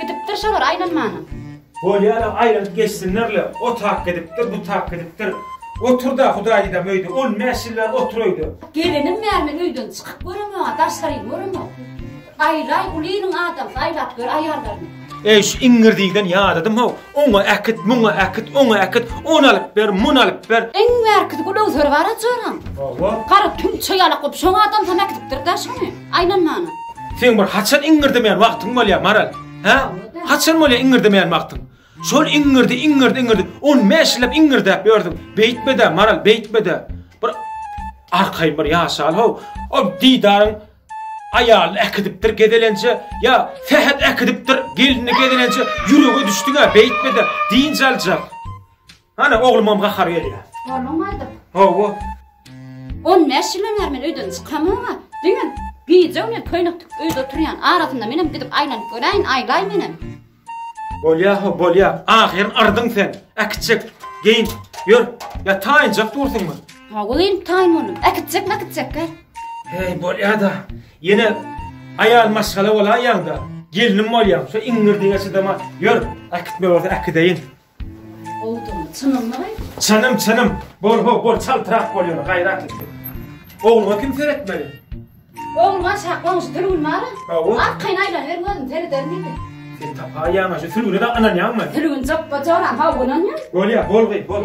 Gidipdir şolar aýlanmana. Bolýar-a, aýlanyp geçsinler-le. O tak gidipdir, bu tak gidipdir. Otur-da, Hudaý didem öýde. On bäş ýyl bäri otur öýde. Gelinim bäri men öýden çykyp göremok-a, daşary göremok. Aýlaý, uly iliň adamsy, aýlap gör aýallaryňy. Eý, şu iňňirdikden ýadadym-how. Oňa äkit, muňa äkit, oňa äkit, ony alyp ber, muny alyp ber. Iň bärkisi gulagzor bar-a joram. Hawa. Gara tüňçe ýalak bolup, şoň adamsam äkidipdir-dä şony. Aýlan mana. Seň bir haçan iňňirdemeýän wagtyň bolýar, Maral? Hä? Haçan bolýar iňňirdemeýän wagtyň? Şol iňňirdi, iňňirdi, iňňirdi. On bäş ýyllap iňňirdäp ýördüň. Beýtme-dä, Maral, beýtme-dä. Bir arkaýyn bir ýaşal-how. O didaryň aýalyny äkidipdir gezelenje, ýa Sähet äkidipdir gelnini gezelenje, ýürege düşdüň-ä, beýtme-de, dynç aljak. Hana oglumam gahar gelýär. Onuň aýdyp. Hawa. 15 ýyl öňär men öýden çykamyga, diňe gije bilen köýnek tikip öýde oturýan. Arasynda menem gidip aýlanyp göräýin, aýlaý menem. Bolýa, ho, bolýa. Ahyryn ardyň sen. Äkitjek, geýin. Ýör, ýa taýynjak dursuňmy? Ha, gülüm, taýyn boldum. Äkitjek, mäkitjek, gel. Heý, bolýa-da. Ýene aýal maşgala bolaýýaň-da. Gelnim bolýaň, şu iňňirdiňe çydaman. Ýör, äkitme bolsa äkideýin. Bowdum, çynyňmy aýt? Çynym, çynym. Bol, ho, bol, çaltrak bol ýöne, gaýrat et. Ogluňa kim seretmeli? Ogluňa şak goňşy Sülgün bar. Hawa. Arkaýyn aýlanyber gözüm sereder diýdi. Sen tapaýaň, şu Sülgüne-de ynanýaňmy? Sülgün joppa joran hawa ynanýan. Bolýa, bol gyz, bol.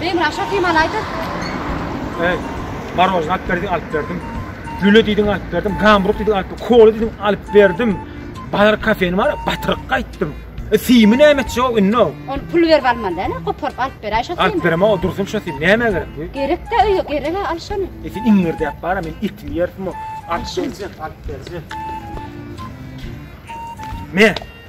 Beýim raşa kymany aýdyň. Eý, marojna alyp berdi, alyp berdim. Lüle diýdiň alyp berdim, gambruk diýdiň alyp, kola diýdiň alyp berdim. Bazar kafeni bar, batyryk gaýtdym. E, Simi näme etjek o indi? Ol pul berip almaly däl, koparyp alyp ber, aýşa. Alyp berem o dursun şu sim, näme gerek bu? Gerek de öýe, gerek ha, al şony. E, sen iňirdäp bara, men etimi ýerdim o. Alyp berjek, alyp berjek. Me,